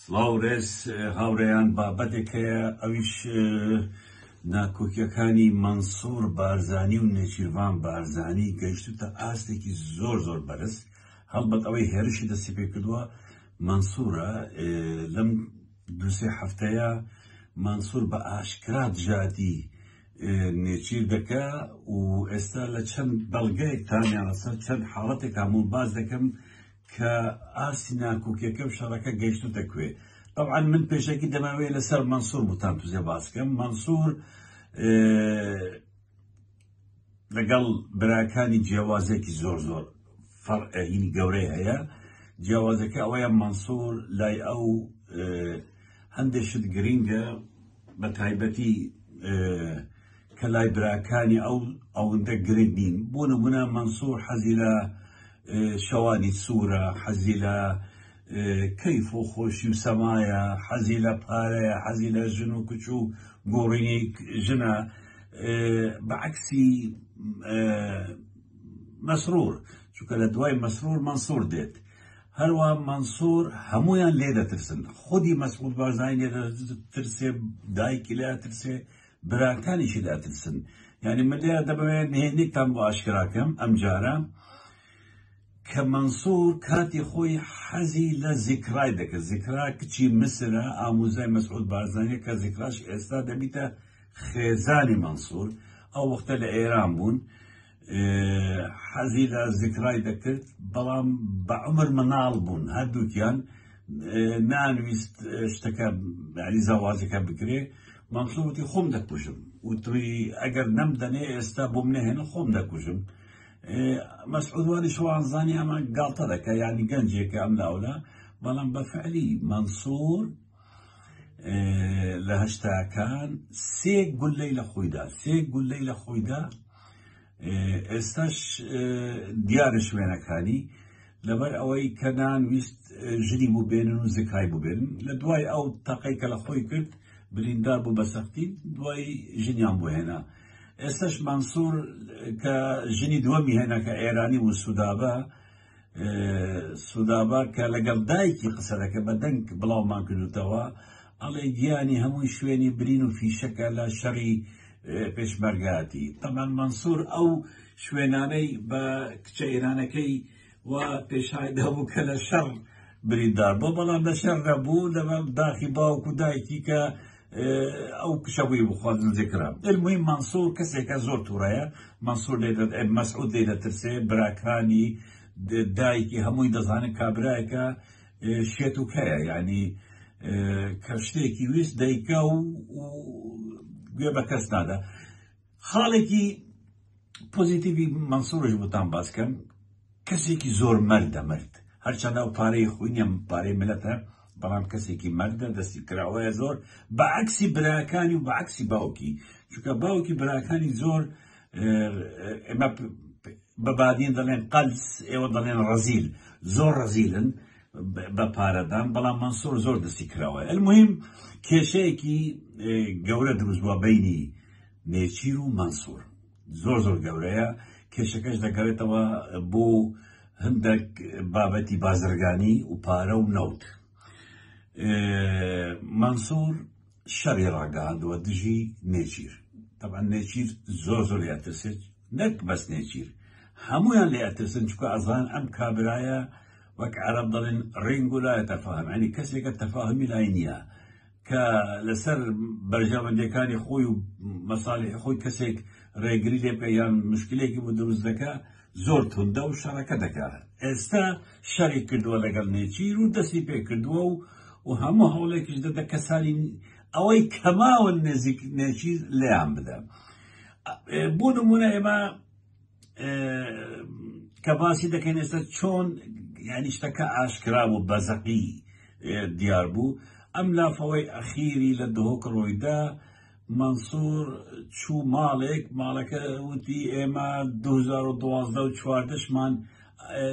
سڵاو رێز هاورێیان بابەتێک هەیە ئەویش ناکۆکیەکانی مەنسور بارزانی و نێچیرڤان بارزانی گەیشتوتە ئاستێکی زۆر زۆر بەرز هەڵبەت ئەوەی هێرشی دەستی پێ کردووە مەنسورە لەم دوسێ هەفتەیە مەنسور بە ئاشکرا دژاتی نێچیر دەکە و ئێستا لە چەند بەڵگەیەکتانیان لەسەر چەند حاڵەتێک هەموو باز دەکەم کە ئاستی ناکۆکیەکە و شەڕەکە گەیشتوتە کوێ طبعا من پێشەکی دەماوێت لەسەر مەنسور بوتان توزێ باسکەم مەنسور لەگەڵ براکانی جیاوازێکی زۆر زۆر فەرعینی گەورەی هەیە جیاوازەکە ئەوەیە مەنسور لای ئەو هەندێک شت گرینگە بە تایبەتی کە لای براکانی ئەو ئەوندە گرنگ نین بۆ نمونە مەنسور حەزی لە شەوانی سوورە حەزی لە کەیف و خۆشی و سەمایە حەزی لە پارەیە حەزی لە ژن و کچ و گۆڕینی ژنە بەعکسی مەسرور چونکە لە دوای مەسرور مەنسور دێت هەروە مەنسور هەمویان لێ دەترسن خودی مەسعود بارزانانی لێ ترسێ دایکی لە ترسێ براکانیشی دەترسن یعنی من لێرە دەبەوێت نهێنیتان بۆ ئاشکراکەم ئەم جارە کە مەنسوور کاتی خۆی حەزی لە زیکرای دەکرد زیکرا کچی مسرە ئاموزای مەسعود بارزانانی کە زیکراش ئێستا دەبیتە خێزانی مەنسوور ئەو وەختە لە ئێران بوون حەزی لە زیکرای دەکرد بەڵام بە عمر مناڵ بوون هەردووکیان نانویست شتەکە یعنی زەواجەکە بکرێ مەمسووتی خۆم دەکوژم وتوی ئەگەر نەمدەنێ ئێستا بۆم نەهێنە خۆم دەکوژم مەسعودوانی شوانزانی ئەمە گاڵتە دەکە یانی گەنجێکە ئەم لاولا بەڵام بە فعلی مەمسور لە هەشتاکان سێ گولەی لە خۆیدا سێ گولەی لە خۆیدا ئێستاش دیارە شوێنەکانی لەبەر ئەوەی کە نان ویست ژنی بوو بێنن و زکای بووبێن لە دوای ئەو تەقەی کە لە خۆی کرد بریندار بوو بە سەختی دوای ژنیان بۆ هێنا ئێستاش مانسوور کە ژنی دووەمی هێنا کە ئێرانی و سوودابە سودابا کە لەگەڵ دایکی قسە دەکە بە دەنگ بڵاومان کردوتەوە ئەڵێ گیانی هەمووی شوێنی برین و فیشەکە لە شەڕی پێشمەرگاتی تەمان منسوور ئەو شوێنانەی بە کچە ئێرانەکەی و پێشایدا بوو کە لە شەڕ بریندار بۆ بەڵام لە شەر نەبوو لەمە داخی باوکو دایکی کە ئەو کشە بووی بخوازن زیکرە المهم مەنسوور کەسێکە زۆر تووڕەیە مەنسوور مەسعود لێ دەترسێ براکانی دایکی هەمووی دەزانن کابراایەکە شێت و کەیە ینی کە شتێکی ویست دەیکە و گوێ بە کەس نادا خاڵێکی پۆزیتیڤی مەنسوڕش بۆتان باس کەم کەسێکی زۆر مەردە مرد هەرچەندە ئەو پارەی خۆی نیە پارەی ملەتە بەڵام کەسێکی مەردە دەستی کراوەیە زۆر بە عکسی براکانی و بە عکسی باوکی چونکە باوکی براکانی زۆر ئێمە بە بادین دەڵێن قەلس ئێوە دەڵێن ڕەزیل زۆر ڕەزیلن بە پارەدان بەڵام مەنسوور زۆر دەستی کراوە المهم کێشەیەکی گەورە دروست بووە بینی نێچیر و مەنسوور زۆر زۆر گەورەیە کێشەکەش دەگەڕێتەوە بۆ هەندێک بابەتی بازرگانی و پارە و نەوت مەنسوور شەڕی ڕاگەهاندووە دژی نێچیر تەبعەن نێچیر زۆر زۆر لێ ئەترسێت نەک بەس نێچیر هەمویان لێ ئەترسن چکە ئەزان ئەم کابرایە وەک عرب دەڵێن ڕنگ و لایە تەفاهم ینی کەسێکە تەفاهمی لای نییە کە لەسەر بەرژەوەندەکانی خۆی و مەسالی خۆی کەسێک ڕێگری لێ بکە یان مشکلێکی بۆ دروست دەکە زۆر توندە و شەڕەکە دەکا ئێستا شەڕی کردووە لەگەڵ نێچیر و دەستی پێ کردووە و و هەموو هەوڵێکیش دەدە کەسانی ئەوەی کەماون نێزیک نێچیر لێیان بدە بۆ نمونە ئێمە کە باسی دەکەین ئێستا چۆن یعنی شتەکە ئاشکرا و بەزەقی دیار بوو ئەم لافەوەی ئەخیری لە دهۆک ڕۆیدا مەنسور چوو ماڵێک ماڵەکە وتی ئێمە 2012 و چواردەشمان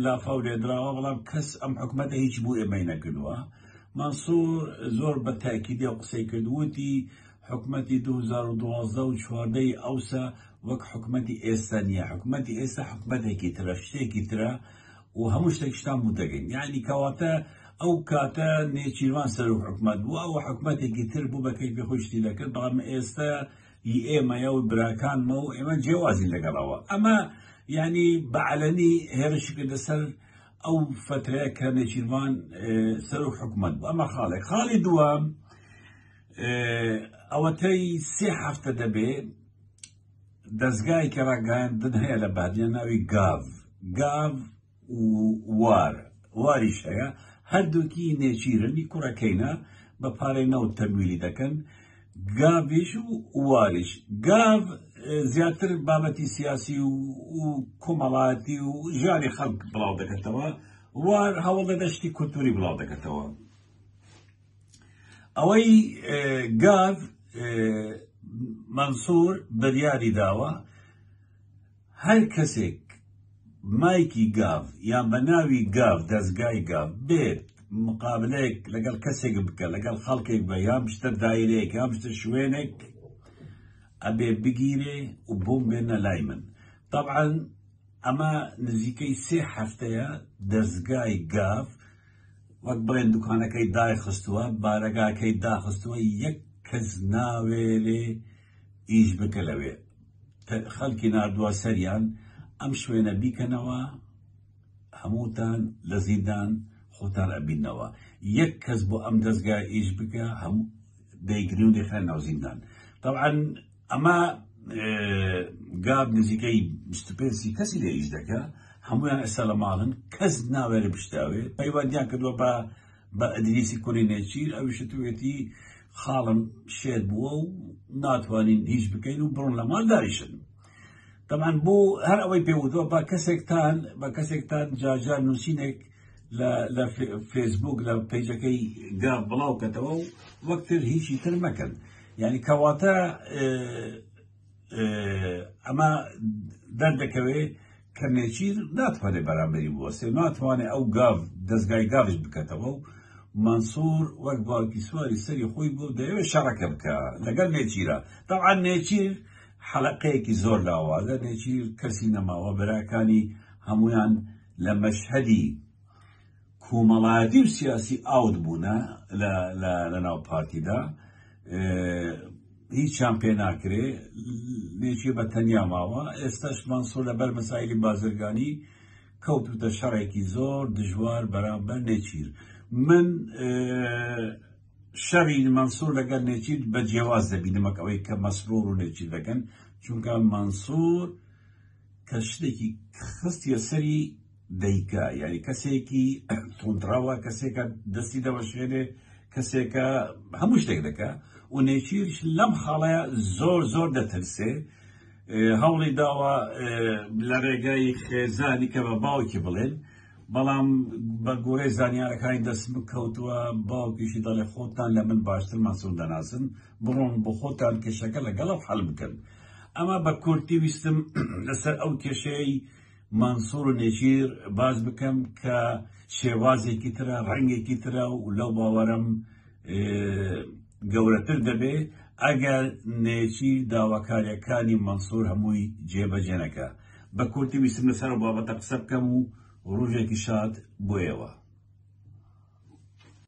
لافاو لێدراوە بەڵام کەس ئەم حکومەتە هیچ بوو ئێمەی نەکردووە مەنسور زۆر بە تاکیدی و قسەی کردووتی حکومەتی 2012 و چواردەی ئەوسا وەک حکومەتی ئێستا نییە حکومەتی ئێستا حکومەتێکی ترە شتێکی ترە و هەموو شتێکشتان بوو دەگەین یعنی کەواتە ئەو کاتە نێچیروان سەرۆک حکومەت بوو ئەوە حکومەتێکی تر بوو بە کەیفی خۆی شتی دەکرد بەڵام ئێستا ی ئێمەیە و براکانمە و ئێمە جیوازین لەگەڵەوە ئەمە یعنی بەعلەنی هێرشی کردە سەر ئەو فترەیە کە نێچیروان سەرۆک حکومەت بوو ئەمە خاڵێک خاڵی دووەم ئەوەتەی سێ هەفتە دەبێ دەزگایەکی ڕاگەیاندن هەیە لە بادیە ناوی گاڤ گاڤ وار واریش هەیە هەردووکی نێچیرنی کوڕەکەینە بە پارەی نەوت تەمویلی دەکەن گاڤش و واریش گاڤ زیاتر بابەتی سیاسی و کۆمەڵاتی و ژانی خەڵک بڵاو دەکەتەوە وار هەوڵ دەدەشتی کولتوری بڵاو دەکەتەوە ئەوەی گاڤ مەنسوور بریاری داوە هەر کەسێک مایکی گاڤ یا بە ناوی گاڤ دەستگای گاڤ بێت مقابلەیەک لەگەڵ کەسێک بکە لەگەڵ خەڵکێک بە یام شتە دایرەیەک یام شتە شوێنێک ئەبێ بگیرێ و بووم بێنە لای من طبعاً ئەمە نزیکەی سێ هەفتەیە دەستگای گاڤ وەک بڵێن دوکانەکەی دایخستووە بارەگاکەی داخستووە یەک کەس ناوێ لێ ئیش بکە لەوێ خەڵکی نردووە سەریان ئەم شوێنە بیکەنەوە هەمووتان لە زیندان خۆتان ئەبینەوە یەک کەس بۆ ئەم دەستگای ئیش بکە هەموو دەیگرنی خە ناوزیندان طبعا ئەما گاب نزیکەی سی کەسی لە ئیش دەکە هەمویان ئەسا لە ماڵن کەس ناوێرە بشتاوێ پەیوەندیان کردوە بە بە ئەدریسی کوری نێچیر ئەویشتوێتی خاڵم شێت بووە و ناتوانین هیچ بکەین و بڕۆن لە ماڵ داریشن تەمان بۆ هەر ئەوەی پێوتوە بە کەسێکتان بە کەسێکتان جاجار نووسینێک لە فێسبوک لە پیجەکەی گا بڵاو کەتەوە و وەکتر هیچی تر مەکەن یانی کەواتە ئەمە دەردەکەوێ کە نێچیر ناتوانێت بەرامبەری بوەسێ ناتوانێت ئەو گاڤ دەستگای گاڤش بکەتەوە و منصور وەک باوکی سواری سەری خۆی بۆ دەیەوێت شەڕەکە بکە لەگەر نێچیرە داعا نێچیر حەلقەیەکی زۆر لاوازە نێچیر کەسی نەماوە بەراکانی هەمویان لە مەشهدی کۆمەڵایەتی و سیاسی ئاوت بوونە لە ناو پارتیدا هیچیان پێ ناکرێ لێکی بە تەنیا ماوە ئێستاش مانسۆ لە بەر مەسایلی بازرگانی کەوتوتە شەڕێکی زۆر دژوار بەرامبەر نێچیر من شەڕی مەنسور لەگەر نێچیر بە جیاواز دەبینمەکەەوەی کە مەسرور و نێچیر دەکەن چونکە مەنسور کە شتێکی خستیە سەری دەیکا یاری کەسێکی تونندڕاوە کەسێکە دەستی دەوەشێنێ کەسێکە هەموو شتێک دەکە و نێچیرش لەم خاڵەیە زۆر زۆر دەترسێ هەوڵی داوە لە ڕێگای خێزانی کە بە باوکی بڵێن بەڵام بە گۆرەی زانیارەکانی دەست بکەوتووە باوکیشی دەڵێ خۆتان لە من باشتر مەسون دەناسن بڕۆن بۆخۆتان کێشەکە لەگەڵەوە حەل بکەن. ئەمە بە کورتی ویستم لەسەر ئەو کێشەی مەنسوور و نێچیر باس بکەم کە شێوازێکی ترە، ڕەنگێکی ترە و لەو باوەرەم گەورەتر دەبێ ئەگەر نێچیر داواکارییەکانی مەنسوور هەمووی جێبەجێ نەکا. بە کورتی ویستم لەسەر ئەو بابەتە قسە بکەم و ڕوژێکی شاد بۆ ئێوە.